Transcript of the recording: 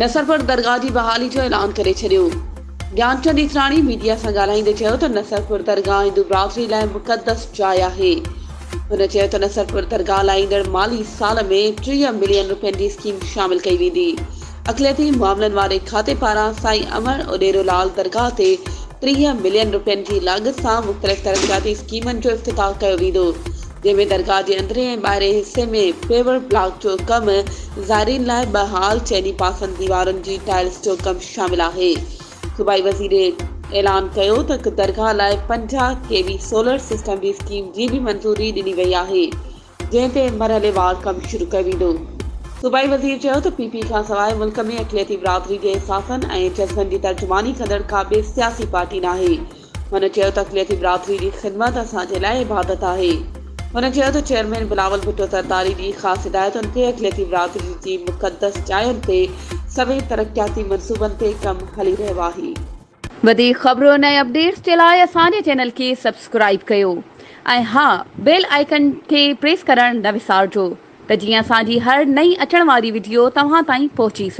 نصرپور درگاهه جي بحالي جو اعلان ڪري ڇڏيو، گيانچند ايسراڻي ميڊيا سان ڳالهائيندي چيو ته نصرپور درگاهه هندو برادري لاء مقدس جاء آهي، هن چيو ته نصرپور درگاهه لاء ايندڙ مالي سال ۾ ٽيهه ملين روپين جي اسڪيم شامل ڪئي ويندي، اقليتي معاملن واري کاتي پاران سائين امڙ اوڏيرو لال درگاهه تي ٽيهه ملين روپين جي لاڳت سان مختلف ترقياتي اسڪيمن جو افتتاح ڪيو ويندو، جنهن ۾ درگاهه جي اندرين ۽ ٻاهرين حصي ۾ پيورڊ بلاڪ جو ڪم، زائرين لاء ٻه هال، چئني پاسن ديوارن جي ٽائلز جو ڪم شامل آهي. صوبائي وزير اعلان ڪيو ته درگاهه لاء پنجاهه ڪي وي سولر سسٽم جي اسڪيم جي به منظوري ڏني وئي آهي، جنهن تي مرحليوار ڪم شروع ڪيو ويندو. صوبائي وزير چيو ته پي پي کانسواء ملڪ ۾ اقليتي برادري جي احساسن ۽ جذبن جي ترجماني ڪندڙ ڪا ٻي سياسي پارٽي ناهي، هن چيو ته اقليتي برادري جي خدمت اسان جي لاء عبادت آهي. هن چيو ته چيئرمين بلاول ڀٽو زرداري جي خاص هدايتن تي اقليتي برادري جي مقدس جاين تي سوين ترقياتي منصوبن تي ڪم هلي رهيو آهي. وڌيڪ خبرن ۽ اپڊيٽس جي لاء اسان جي چينل کي سبسڪرائيب ڪيو ۽ ها بيل آئيڪن کي پريس ڪرڻ نه وسارجو ته جيئن اسان جي هر نئين اچڻ واري وڊيو توهان تائين پهچي سگهي.